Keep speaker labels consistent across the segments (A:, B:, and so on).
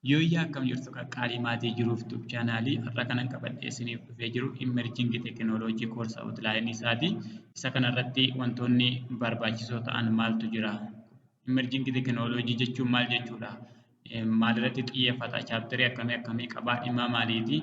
A: Yooyyaa akkam jirtu qaqqaalii maatii jiruuf tub chaanaalii har'a kanan qabadhee isiniif dhufee jiru immerjingi teekinooloojii koorsa awutlaayinii isaati. Isa kanarratti wantoonni barbaachisoo ta'an maaltu jira? Immerjingi teekinooloojii jechuun maal jechuudha? Maalirratti xiyyeeffata? Chaapterii akkamii akkamii qabaa? Dhimma maaliiti?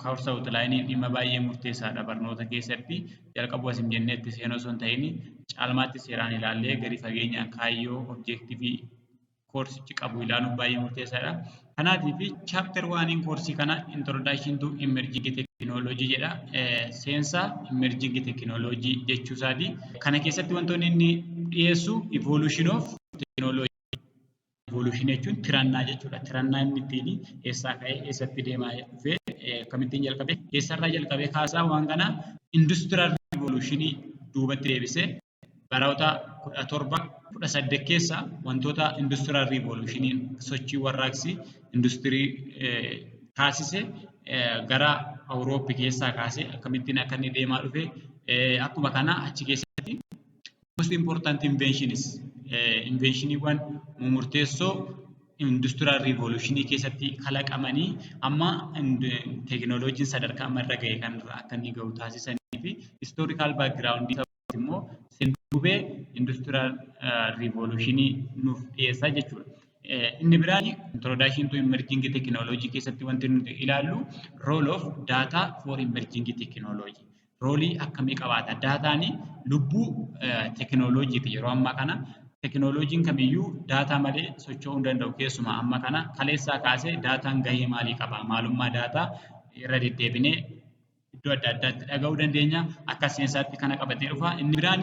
A: Karoorsa Outline dhimma baay'ee murteessaadha barnoota keessatti jalqabuu asin jenneetti seenuu osoo hin ta'in caalmaatti seeraan ilaallee gadi fageenyaan kaayyoo objektiivii koorsichi qabu ilaaluun baay'ee murteessaadha. Kanaatiif chaapter waaniin koorsii kana introduction to emerging technology jedha. Seensa emerging technology jechuu isaati. Kana keessatti wantoonni inni dhiyeessu evolution of technology Evolution jechuun tirannaa jechuudha. Tirannaa inni ittiin eessaa ka'ee eessatti deemaa dhufee akkamittiin jalqabee eessarraa jalqabee kaasaa waan kana industrial revolution duubatti deebisee baroota kudha torba kudha saddeet keessa wantoota industrial revolution sochii warraaqsi industirii taasise gara Awurooppii keessaa kaasee akkamittiin akka inni deemaa dhufe akkuma kana achi keessatti most important inventions invenshiniiwwan murteessoo industiraal riivoluushinii keessatti kalaqamanii amma teekinooloojiin sadarkaa amma irra ga'e kanarra akka inni ga'u taasisanii fi istoorikaal baakgiraawundii isaatti immoo seenduubee industiraal riivoluushinii nuuf dhiyeessaa jechuudha. Inni biraan introduction to emerging technology keessatti wanti nuti ilaallu role of data for emerging technology. roolii akkamii qabaata? Daataan lubbuu teekinooloojiiti yeroo ammaa kana. Teekinooloojiin kamiyyuu daataa malee socho'uu hin danda'u keessumaa amma kana kaleessaa kaasee daataan gahee maalii qaba? Maalummaa daataa irra deddeebinee iddoo adda addaatti dhaga'uu dandeenya. Akka seensaatti kana qabatee dhufa. Inni biraan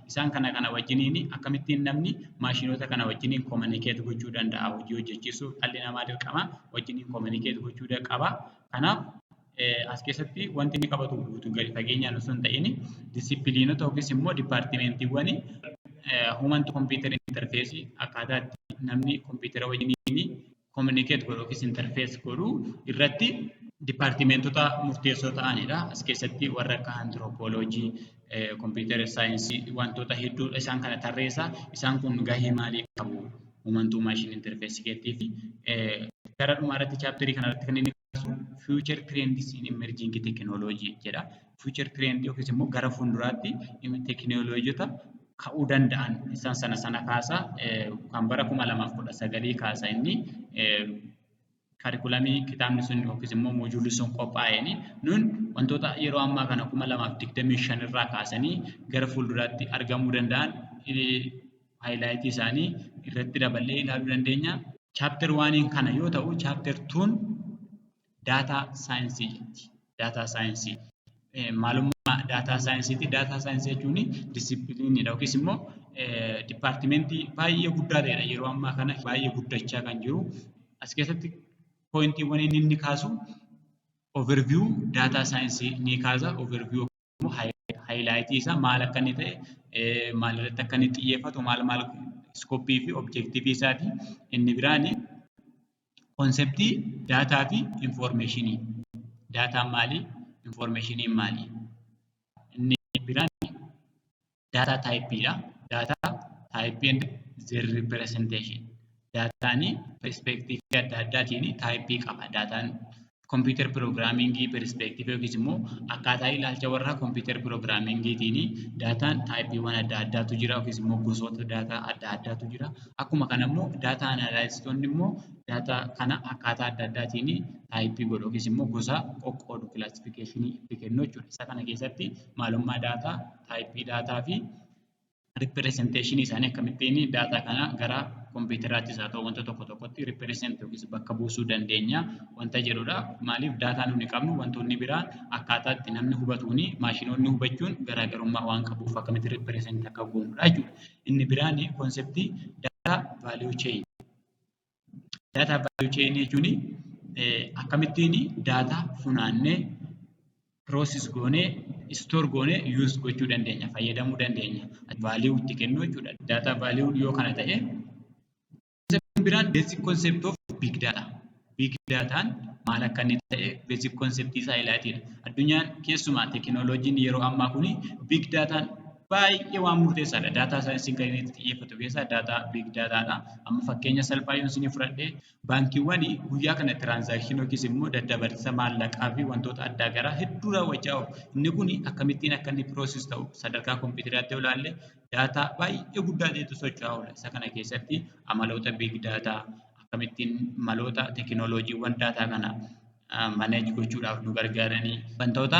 A: Isaan kana kana wajjiniin akkamittiin namni maashinoota kana wajjiniin kominikeet gochuu danda'a hojii hojjechiisuuf dhalli namaa dirqama wajjiniin kominikeet gochuu qaba. Kanaaf as keessatti wanti inni qabatu guutuu gadi fageenyaan osoo hin ta'in disipiliinota yookiis immoo dipaartimeentiiwwan human to computer interface akkaataa itti namni kompiitara wajjiniin communicate godhu yookiis interface godhu irratti dipaartimentota murteessoo ta'anidha. As keessatti warra akka antiroopooloojii, kompiitara saayinsii wantoota hedduu isaan kana tarreessa. Isaan kun gahee maalii qabu? Uumantuu maashin interfeesii keettii fi gara dhumaa irratti chaapterii kana irratti kan inni kaasu future trends in emerging technology jedha. Future trend yookiis immoo gara fuulduraatti tekinooloojota ka'uu danda'an isaan sana sana kaasa kan bara kuma lamaaf kudha sagalii kaasa inni kaarikulamii kitaabni sun yookiis immoo moojuulli sun qophaa'een nun wantoota yeroo ammaa kana kuma lamaaf digdamii shan irraa kaasanii gara fuulduraatti argamuu danda'an haayilaayitii isaanii irratti daballee ilaaluu dandeenya. Chaapter waaniin kana yoo ta'u chaapter tuun daataa saayinsii jetti. Daataa saayinsii. Maalummaa daataa saayinsiiti. Daataa saayinsii jechuun disipiliiniidha yookiis immoo dipaartimentii baay'ee guddaa ta'edha. Yeroo ammaa kana baay'ee guddachaa kan jiru. As keessatti pooyintiiwwan inni inni kaasu overview daataa saayinsii ni kaasa. Overview haayilaayitii isaa maal akka inni ta'e maalirratti akka inni xiyyeeffatu maal maal iskooppii fi objeektiivii isaati. Inni biraan konseptii daataa fi infoormeeshinii. Daataan maali? Infoormeeshiniin maali? Inni biraan daataa taayippiidha. Daataa taayippii and zeer ripiresenteeshin. Daataan perispeektiivii adda addaatiin taayippii qaba. Daataan kompiitar piroogiraamingii perispeektiivii yookiis immoo akkaataa ilaalcha warra kompiitar piroogiraamingiitiin daataan taayippiiwwan adda addaatu jira yookiis immoo gosoota daataa adda addaatu jira. Akkuma kana immoo daataa anaalaayisistoonni immoo daataa kana akkaataa adda addaatiin taayippii godhu yookiis immoo gosa qoqqoodu kilaasifikeeshinii itti kennu jechuudha. Isa kana keessatti maalummaa daataa taayippii daataa fi ripiresenteeshinii isaanii akkamittiin daataa kana gara kompiitaraattis haa ta'u wanta tokko tokkotti ripiresent yookiis bakka buusuu dandeenya wanta jedhudha. Maaliif daataa nuti qabnu wantoonni biraa akkaataa itti namni hubatuun maashinoonni hubachuun garaagarummaa waan qabuuf akkamitti ripiresent akka goonudha jechuudha. Inni biraan konseptii daataa vaaliyuu cheeyin. Daataa vaaliyuu cheenii jechuun akkamittiin daataa funaannee piroosis goonee istoor goonee yuuz gochuu dandeenya fayyadamuu dandeenya vaaliyuu itti kennuu jechuudha. Daataa vaaliyuun yoo kana ta'e konseptiin biraan beezik konsept of biig daataa. Biig daataan maal akka inni ta'e beezik konseptii isaa ilaatiidha. Addunyaan keessumaa teekinooloojiin yeroo ammaa kun biig daataan baay'ee waan murteessaadha. Daataa saayinsiin kan inni itti xiyyeeffatu keessaa daataa biig daataadha. Amma fakkeenya salphaa yoon isinii fudhadhe baankiiwwan guyyaa kana tiraansaakshinii yookiis immoo daddabarsa maallaqaa fi wantoota addaa garaa hedduu raawwachaa oolu. Inni kun akkamittiin akka inni piroosis ta'u sadarkaa kompiitaraatti yoo ilaalle daataa baay'ee guddaa ta'etu socho'aa oola. Isa kana keessatti amaloota biig daataa akkamittiin maloota teekinooloojiiwwan daataa kana maneej gochuudhaaf nu gargaaranii wantoota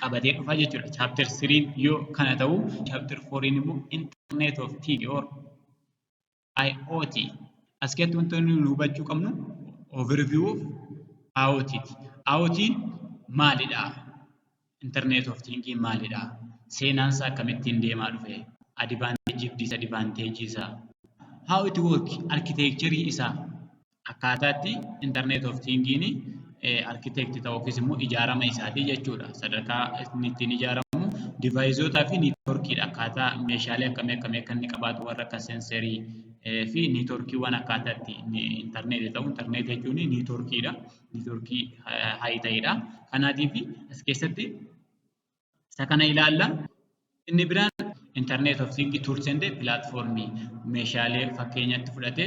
A: qabatee dhufa jechuudha. Chapter 3 yoo kana ta'u, chapter 4 immoo internet of thing or IoT. As keessatti wanti nuyi hubachuu qabnu overview of IoT ti. IoT maalidha? Internet of thing maalidha? Seenaan isaa akkamittiin deemaa dhufe? Advantage fi disadvantage isaa. How it work? Architecture isaa. akkaataa itti internet of thingiin architect ta'u yookiis immoo ijaarama isaatii jechuudha. Sadarkaa inni ittiin ijaaramu divaayizoota fi niitworkiidha. Akkaataa meeshaalee akkamii akkamii akka inni qabaatu warra akka senserii fi niitworkiiwwan akkaataa itti internet ta'u internet jechuun niitworkiidha. Niitworkii hayi ta'edha. Kanaatiif as keessatti Isa kana ilaalla. Inni biraan internet of things tools and platform meeshaalee fakkeenyatti fudhate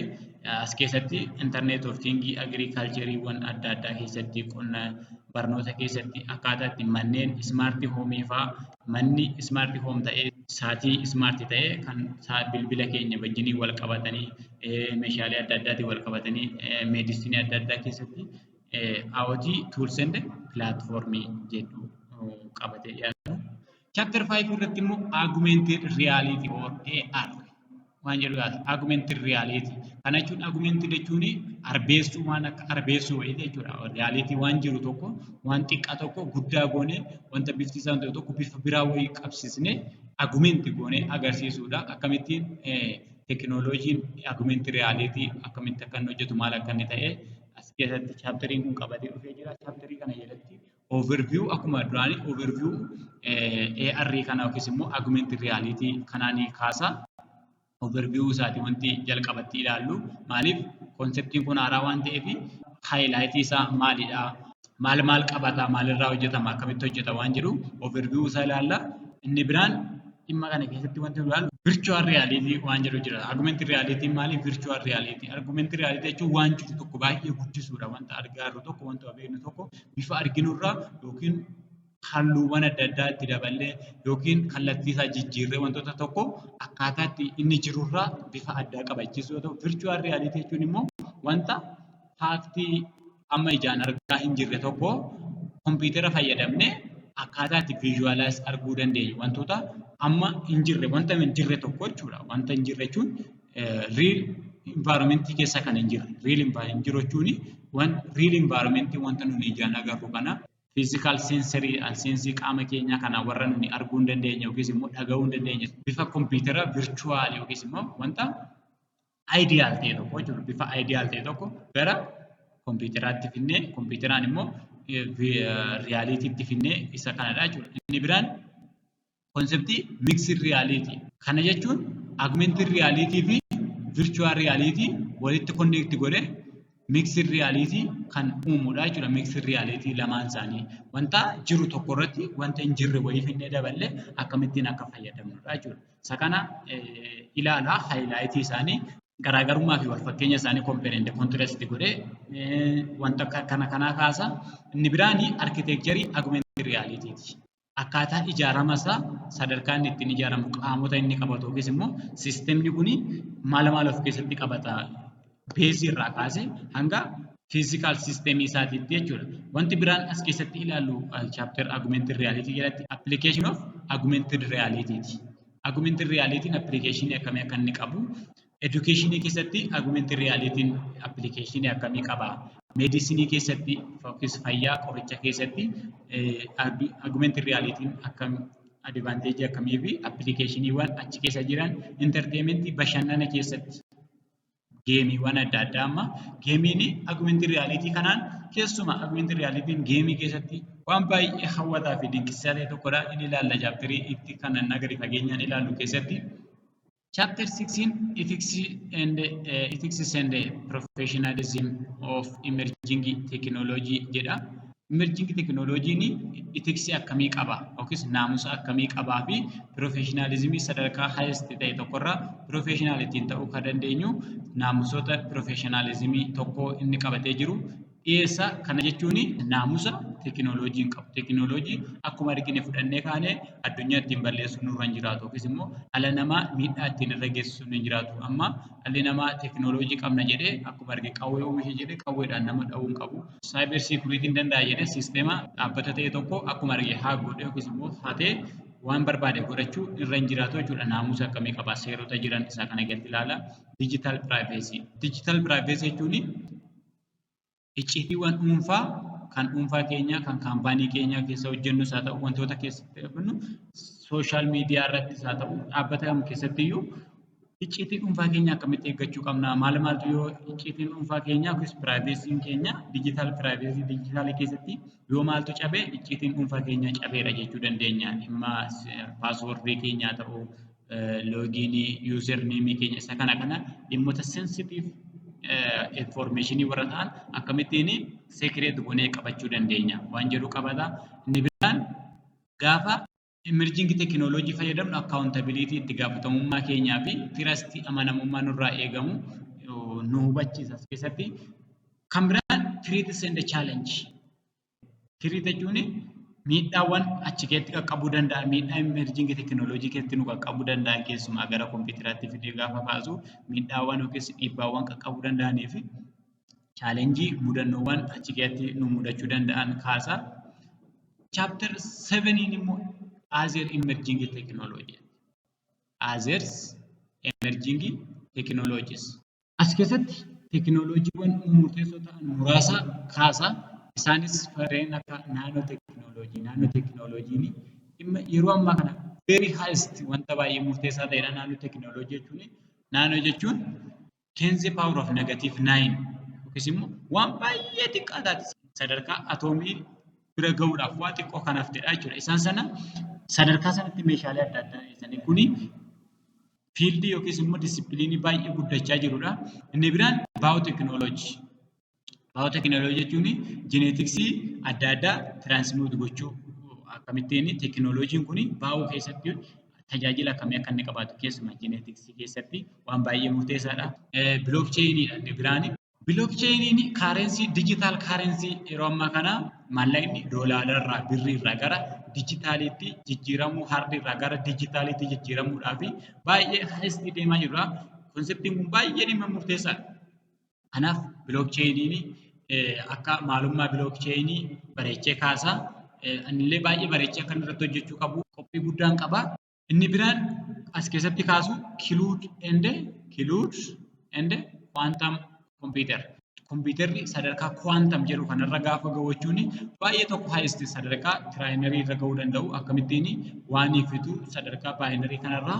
A: as keessatti internet of things agricultureewwan adda addaa keessatti qonna barnoota keessatti akkaataa itti manneen smart home faa manni smart home ta'ee saatii smart ta'ee kan bilbila keenya wajjinii wal qabatanii meeshaalee adda addaatiin wal qabatanii meedisinii adda addaa keessatti IoT tools and platform jedhu qabatee dhiyaatu. Chapter 5 irratti immoo augmented reality or AR waan jedhu yaada. Augmented reality. Kana jechuun augmented jechuun arbeessuu waan akka arbeessuu wayii jechuudha. Reality waan jiru tokko waan xiqqaa tokko guddaa goonee wanta bifti isaa ta'e tokko bifa biraa wayii qabsiisnee augment goonee agarsiisuudha. Akkamittiin tekinooloojiin augmented reality akkamitti akka inni hojjetu maal akka inni ta'e As keessatti chaapteriin kun qabatee dhufee jira. Chaapterii kana jalatti overview akkuma duraanii overview AR kana yookiis immoo augmented reality kanaan kaasa. Overview isaati wanti jalqabatti ilaallu maaliif konseptiin kun haaraa waan ta'eef highlight isaa maalidha? maal maal qabata, maalirraa hojjetama, akkamitti hojjeta waan jedhu overview isaa ilaalla. Inni biraan dhimma kana keessatti wanti nu ilaallu virtual reality waan jedhu jira. Augmented reality maali? Virtual reality. Augmented reality jechuun waan jiru tokko baay'ee guddisuudha. Wanta argaarru tokko, wanta beeknu tokko bifa arginurraa yookiin halluuwwan adda addaa itti daballee yookiin kallattii isaa jijjiirree wantoota tokko akkaataa itti inni jirurraa bifa addaa qabachiisuu yoo ta'u, virtual reality jechuun immoo wanta faaktii amma ijaan argaa hin jirre tokko kompiitara fayyadamne akkaataa itti visualize arguu dandeenyu wantoota amma hin jirre wanta hin jirre tokko jechuudha. Wanta hin jirre jechuun real environment keessa kan hin jirre real environment jiru jechuun wan real environment wanta nuni ijaan agarru kana physical sensory and sensii qaama keenyaa kana warra nuni arguu hin dandeenye yookiis immoo dhaga'uu hin dandeenye bifa kompiitara virtual yookiis immoo wanta ideal ta'e tokko jechuudha. Bifa ideal ta'e tokko gara kompiitaraatti finnee kompiitaraan immoo riyaaliitiitti finnee isa kanadha jechuudha. Inni biraan konseptii miksir riyaaliitii. Kana jechuun agmentiin riyaaliitii fi virchuwal riyaaliitii walitti konneekti godhee miksir riyaaliitii kan uumudha jechuudha. Miksir riyaaliitii lamaan isaanii wanta jiru tokko irratti wanta hin jirre wayii finnee daballee akkamittiin akka fayyadamnudha jechuudha. Isa kana ilaalaa haayilaayitii isaanii garaagarummaa fi walfakkeenya isaanii kompeerende kontirastii godhee wanta akka kana kanaa kaasa. Inni biraan arkitekcherii agumentii riyaaliitiiti. Akkaataa ijaarama isaa sadarkaa inni ittiin ijaaramu qaamota inni qabatu yookiis immoo siistemni kun maala maala of keessatti qabata beezii irraa kaasee hanga fiizikaal siisteemii isaatiitti jechuudha. Wanti biraan as keessatti ilaallu chaapter agumented reality jalatti application of agumented reality ti. Agumented reality application akkamii akka inni qabu education keessatti agumented reality application akkamii qaba medicine keessatti yookiis fayyaa qoricha keessatti agumented reality akkam advantage akkamii fi appilikeeshiniiwwan achi keessa jiran entertainment bashannana keessatti geemiiwwan adda addaa amma geemiin agumentii riyaaliitii kanaan keessumaa agumentii riyaaliitiin geemii keessatti waan baay'ee hawwataa fi dinqisiisaa ta'e tokkodha. Inni ilaalla chaapterii itti kan annaa gadi fageenyaan ilaallu keessatti. Chapter 16 Ethics and uh, Ethics and Professionalism of Emerging Technology jedha. Imerjing tekinooloojiin itiksii akkamii qaba yookiis naamusa akkamii qabaa fi piroofeeshinaalizimii sadarkaa haayest ta'e tokkorra piroofeeshinaal ittiin ta'uu kan dandeenyu naamusoota piroofeeshinaalizimii tokko inni qabatee jiru dhiyeessa. Kana jechuun naamusa tekinooloojiin qabu. Tekinooloojii akkuma argine fudhannee kaanee addunyaa ittiin balleessuun nurra hin jiraatu yookiis immoo dhala namaa miidhaa ittiin irra geessisuun hin jiraatu. Amma dhalli namaa tekinooloojii qabna jedhee akkuma arge qawwee oomisha jedhee qawweedhaan nama dha'uu hin qabu. saayiber siikuriitiin danda'a jedhee siisteema dhaabbata ta'e tokko akkuma arge haa godhe yookiis immoo hatee waan barbaade godhachuu irra hin jiraatu jechuudha. Naamusa akkamii qaba seerota jiran isaa kana gadi ilaala. Digital privacy. Digital privacy jechuun icciitiiwwan dhuunfaa kan dhuunfaa keenyaa kan kaampaanii keenyaa keessa hojjennus haa ta'u wantoota keessatti hojjennu sooshaal miidiyaa irrattis haa ta'u dhaabbata kam keessatti iyyuu Icciitii dhuunfaa keenya akkamitti eeggachuu qabna? Maal maaltu yoo icciitiin dhuunfaa keenya yookiis piraayiveesiin keenya diijitaal piraayiveesii diijitaalii keessatti yoo maaltu cabe icciitiin dhuunfaa keenya cabeera jechuu dandeenya. Dhimma paaswoordii keenyaa ta'uu, loogiinii, yuuzerneemii keenya isa kana kana dhimmoota sensitiiv infoormeeshinii warra ta'an akkamittiin seekireet goonee qabachuu dandeenya waan jedhu qabata. Inni biraan gaafa Emerging technology fayyadamnu accountability itti gaafatamummaa keenyaa fi tirastii amanamummaa nurraa eegamu nu hubachiisa as keessatti. Kan biraan threats and challenge. Threat jechuun miidhaawwan achi keessatti qaqqabuu danda'an miidhaa emerging technology keessatti nu qaqqabuu danda'an keessumaa gara kompiitaraatti fidee gaafa kaasu miidhaawwan yookiis dhiibbaawwan qaqqabuu danda'anii fi chaalenjii mudannoowwan achi keessatti nu mudachuu danda'an kaasa. Chapter 7 immoo Azeer Emerging Technology. Azeers Emerging Technologies. As keessatti tekinooloojiiwwan murteessoo ta'an muraasa kaasa. Isaanis farreen akka naanoo tekinooloojii. Naanoo tekinooloojiin dhimma yeroo ammaa kana very highest wanta baay'ee murteessaa ta'edha naannoo tekinooloojii jechuun. Naannoo jechuun 10 the power of negative 9 yookiis immoo waan baay'ee xiqqaa taate sadarkaa atoomii bira gahuudhaaf waa xiqqoo kan haftedha jechuudha. Isaan sana sadarkaa sanatti meeshaalee adda addaa dhiyeessanii kuni fiildii yookiis immoo disipiliinii baay'ee guddachaa jirudha. Inni biraan baayootekinooloojii. Baayooteekinooloojii jechuun jeneetiksii adda addaa tiraansmuut gochuu akkamittiin teekinooloojiin kun baayoo keessatti tajaajila akkamii akka inni qabaatu keessumaa jeneetiksii keessatti waan baay'ee murteessaadha. Bilook cheeyiniidha inni biraan. Bilook cheeyiniin kaareensii dijitaal kaareensii yeroo ammaa kana maallaqni doolaararraa birriirraa gara dijitaaliitti jijjiiramuu hardiirraa gara dijitaaliitti jijjiiramuudhaa fi baay'ee haala itti deemaa jirudha. Konseptiin kun baay'ee dhimma murteessaadha. Kanaaf bilook cheeyiniin akka maalummaa bilook cheeyinii bareechee kaasa. Anillee baay'ee bareechee akka inni irratti hojjechuu qabu qophii guddaan qaba. Inni biraan as keessatti kaasu kiluud ende kiluud ende kwaantam kompiitar. Kompiitarri sadarkaa kwaantam jedhu kanarra gaafa gahu jechuun baay'ee tokko haayist sadarkaa tiraayinarii irra gahuu danda'u akkamittiin waanii fituu sadarkaa baayinarii kanarraa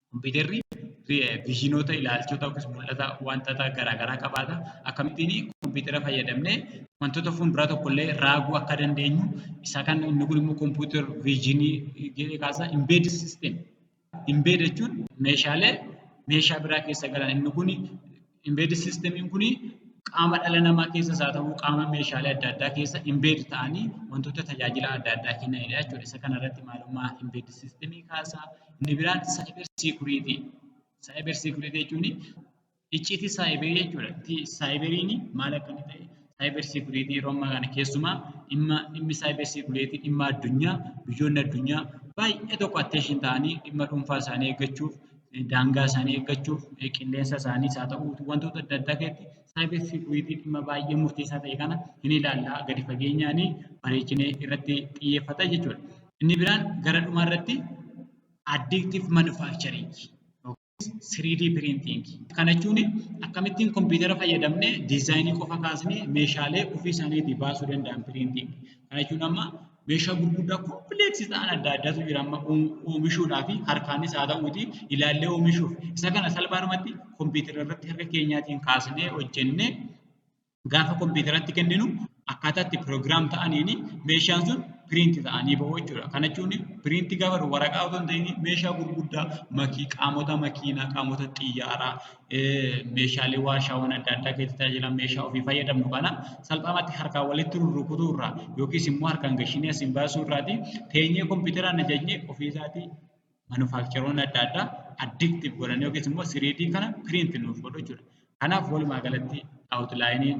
A: Kompiitarri viizhinoota, ilaalchota yookiis mul'ata wantata garaa garaa qabaata. Akkamittiin kompiitara fayyadamnee wantoota fuulduraa tokkollee raaguu akka dandeenyu isa kan inni kun immoo kompiitar viizhinii jedhee kaasa. Imbeed siistem. Imbeed jechuun meeshaalee meeshaa biraa keessa galan inni kun Embedded systemiin kun qaama dhala namaa keessas haa ta'u qaama meeshaalee adda addaa keessa embeed ta'anii wantoota tajaajila adda addaa kennanidha jechuudha. Isa kana irratti maalummaa embedded systemii kaasaa. Inni biraan cyber security. Cyber security jechuun icciitii saayiberii jechuudha. Saayiberiin maal akka inni ta'e cyber security yeroo ammaa kana keessumaa dhimma dhimmi cyber security dhimma addunyaa biyyoonni addunyaa baay'ee tokko attention ta'anii dhimma dhuunfaa isaanii eeggachuuf daangaa isaanii eeggachuuf qilleensa isaaniis haa ta'u wantoota adda addaa keessatti saayibar seekuriitii dhimma baay'ee murteessaa ta'e kana hin ilaalla gadi fageenyaan bareechinee irratti xiyyeeffata jechuudha. Inni biraan gara dhumaa irratti addiiktiif manufaaktcharingii yookiis 3D piriintiingii. Kana jechuun akkamittiin kompiitara fayyadamnee diizaayinii qofa kaasnee meeshaalee ofii isaaniitii baasuu danda'an piriintiingii. Kana jechuun amma meeshaa gurguddaa kompleeksii ta'an adda addaatu jira amma oomishuudhaa fi harkaanis haa ta'uuti ilaallee oomishuuf isa kana salphaadhumatti kompiitara irratti harka keenyaatiin kaasnee hojjennee gaafa kompiitaratti kenninu akkaataa itti piroogiraam ta'aniin meeshaan sun piriinti ta'anii bahu jechuudha. Kana jechuun piriinti gaafa waraqaa otoo hin ta'in meeshaa gurguddaa makii qaamota makiinaa qaamota xiyyaaraa meeshaalee warshaawwan adda addaa keessatti tajaajilan meeshaa ofii fayyadamnu kana salphaamatti harkaan walitti rurrukutuu irraa yookiis immoo harkaan gashinee asiin baasuu irraati teenyee kompiitaraan ajajnee ofii isaatii manufaakcharoonni adda addaa addiktiif godhan yookiis immoo siriidii kana piriinti nuuf godhu jechuudha. Kanaaf walumaa galatti awutlaayiniin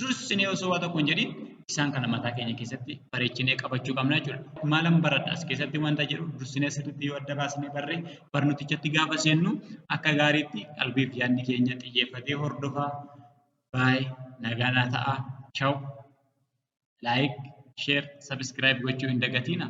A: dursinee osoo waa tokko hin jedhin isaan kana mataa keenya keessatti bareechinee qabachuu qabna jechuudha. Maalan baradha as keessatti wanta jedhu dursinee sirriitti yoo adda baasnee barree barnootichatti gaafa seennu akka gaariitti qalbiif yaadni keenya xiyyeeffatee hordofaa baay'ee nagaanaa ta'a. Chaw. Like, share, subscribe gochuu hin dagatiina.